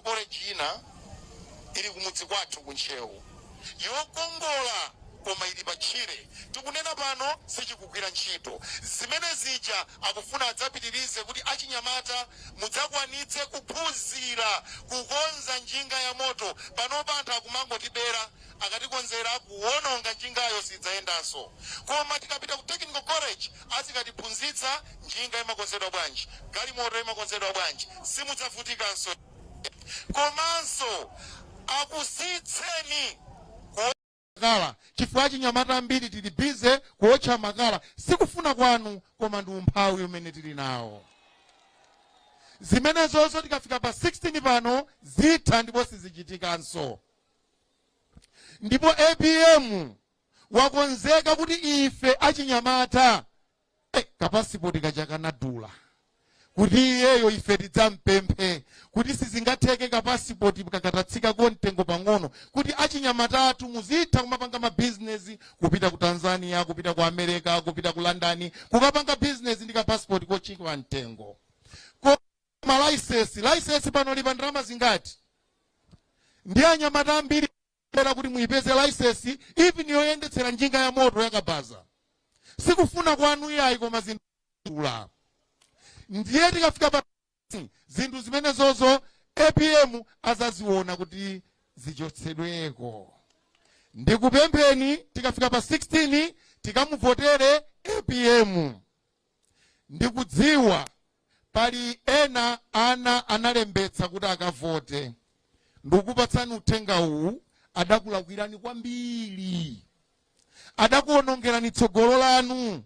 koleji ina ili kumudzi kwathu ku ntcheu yokongola koma ili patchire tikunena pano sichikugwira ntchito zimene zija akufuna adzapitirize kuti achinyamata mudzakwanitse kuphunzira kukonza njinga ya moto panopa anthu akumangotibera akatikonzera kuwononga njingayo sidzayendanso koma tikapita ku technical college azikatiphunzitsa njinga imakonzedwa bwanji, galimoto imakonzedwa bwanji, simudzavutikanso komanso akusiyitseni kuotcha makala chifukwa achinyamata ambiri tili busy kuotcha makala, sikufuna kwanu koma ndi umphawi umene tili nawo. Zimenezozo tikafika pa 16 pano zitha ndipo sizichitikanso. Ndipo apm wakonzeka kuti ife achinyamata eh, kapasipoti kaja kanadula kuti iyeyo ife tidzampemphe kuti sizingatheke kapasipoti katatsikako mtengo pang'ono kuti achinyamata athu muzitha kumapanga mabizinesi kupita ku tanzania kupita ku america kupita ku london kukapanga bizinesi ndi kapasipoti kotchipa mtengo koma laisensi laisensi panopa ili pa ndalama zingati ndi anyamata ambiri kapena kuti muipeze laisensi even yoyendetsera njinga ya moto yakabaza sikufuna kwanu iyayi koma zinadula ndiye tikafika pa zinthu zimenezozo apm adzaziona kuti zichotsedweko ndikupempheni tikafika pa 16 tikamuvotere apm Ndikudziwa pali ena ana analembetsa kuti akavote. Ndikukupatsani uthenga uwu, adakulakwirani kwambiri. Adakuonongerani tsogolo lanu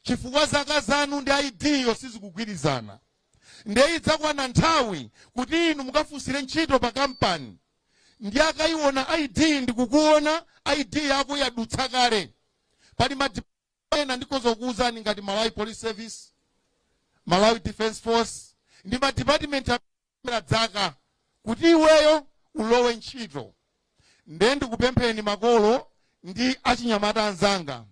chifukwa zaka zanu ndi ID yo sizikugwirizana. Ndiye idzakwana nthawi kuti inu mukafunsire ntchito pa kampani ndi akaiona ID ndikuona ID yako yadutsa kale pali ma ena ndikhoza kukuwuzani ngati malawi police service malawi defense force ndi madipatimenti amaona dzaka kuti iweyo ulowe ntchito nde ndikupempheni makolo ndi achinyamata anzanga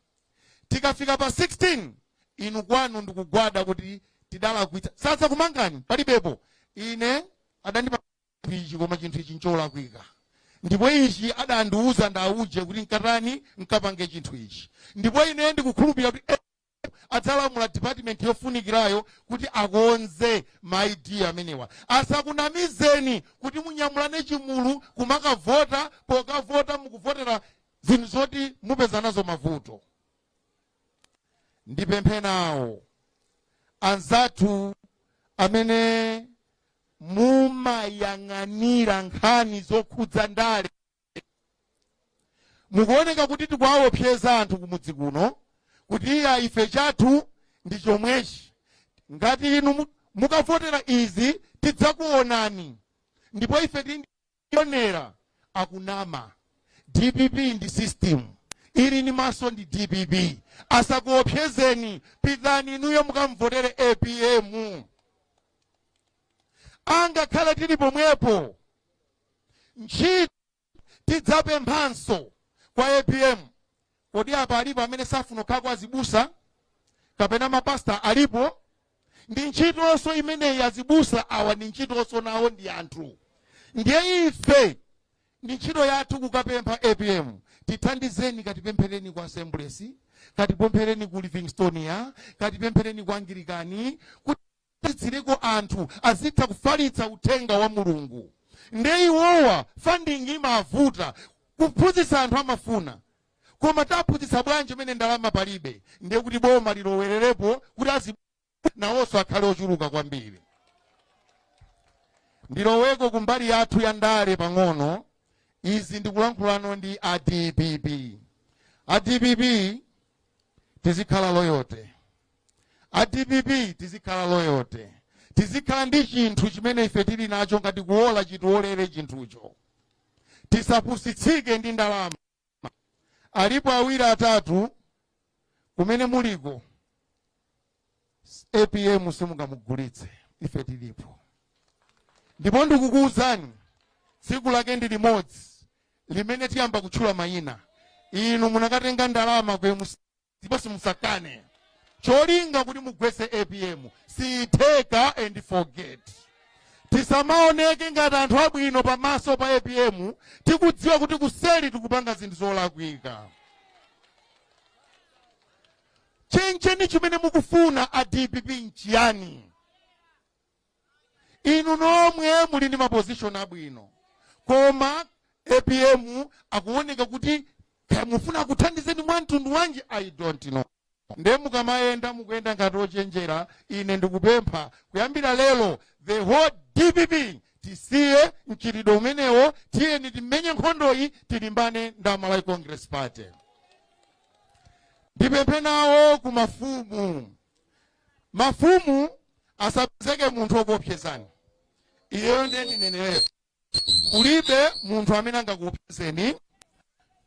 tikafika pa 16 inu kwanu ndikugwada kuti tidalakwitsa sadzakumangani palibepo ine adandipatsa chinthu ichi koma chinthu ichi ncholakwika ndipo ichi adandiwuza ndauje kuti ukatani nkapange chinthu ichi ndipo ine ndikukhulupirira kuti eh, adzalamula department yofunikirayo kuti akonze ma id amenewa asakunamizeni kuti munyamulane chigulu kumakavota pokavota mukuvotera zinthu zoti mupeza nazo mavuto ndipemphe nawo anzathu amene mumayang'anira nkhani zokhudza ndale mukuwoneka kuti tikuwaopseza anthu kumudzi kuno kuti iya ife chathu ndi chomwechi ngati inu mu- mukavotera izi tidzakuonani ndipo ife tili ndi onera akunama dpp ndi system ili ni maso ndi dpp asakuopsezeni pitani inuyo mukamvotere apm angakhala tili pomwepo ntchito tidzapemphanso kwa apm Kodi apa alipo amene safuna kukhala kwa azibusa kapena mapasta alipo? Ndi ntchitonso imeneyi azibusa awa ndi ntchitonso nawo ndi anthu. Ndiye ife ndi ntchito yathu kukapempha APM tithandizeni katipemphereni ku Assemblies, katipemphereni ku Livingstonia, katipemphereni kwa Anglikani kuti kuti dziliko anthu azitha kufalitsa uthenga wa Mulungu nde iwowa funding imavuta kuphunzitsa anthu amafuna koma taphunzitsa bwanji mmene ndalama palibe ndiye kuti boma lilowererepo kuti azi nawonso akhale ochuluka kwambiri ndiloweko kumbali yathu ya ndale pang'ono izi ndikulankhulano ndi a dpp a dpp tizikhala loyote a dpp tizikhala loyote tizikhala ndi chinthu chimene ife tili nacho ngati kuwola chitiwolere chinthucho tisapusitsike ndi ndalama alipo awiri atatu kumene muliko apm simungamugulitse ife tilipo ndipo ndikukuwuzani tsiku lake ndi limodzi limene tiyamba kutchula mayina inu munakatenga ndalama ku mcp ndipo simuzakane cholinga kuti mugwetse apm siyitheka and forget tisamaoneke ngati anthu abwino pamaso pa apm tikudziwa kuti kuseli tikupanga zinthu zolakwika chencheni chimene mukufuna a dpp nchiyani inu nomwe muli ndi mapozishoni abwino koma apm akuoneka kuti kaya mufuna akuthandizeni mwa mtundu wanji i don't know nde mukamayenda mukuyenda ngati ochenjera ine ndikupempha kuyambira lero the whole dpp tisiye mchitidwe umenewo tiyeni timenye nkhondoyi tilimbane ndi amalawi congress party ndipemphe nawo ku mafumu Mafumu asapezeke munthu okuopsezani. Iyeyo ndiye ndinenere. Kulibe munthu amene angakuopsezeni.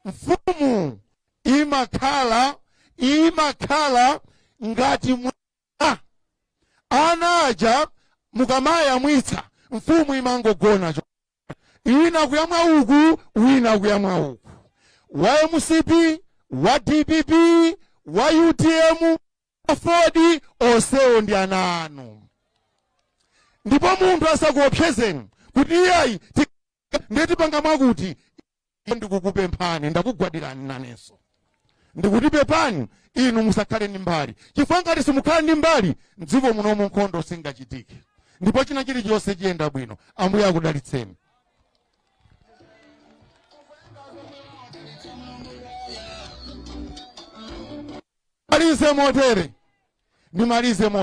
Mfumu imakhala imakhala ngati mayi. Ana aja mukamawayamwitsa mfumu imangogona cho. Wina kuyamwa uku, wina kuyamwa uku. Wa mcp, wa dpp, wa utm, wa afodi onsewo ndi ana anu ndipo munthu asakuopsezeni kuti iyayi ti- ndiye tipanga mwakuti ndikukupemphani ndakugwadirani nanenso ndikuti pepani inu musakhale ndi mbali chifukwa ngati simukhala ndi mbali mdziko munomu nkhondo singachitike ndipo china chilichonse chiyenda bwino ambuye akudalitseni Malize motere, ndimalize motere.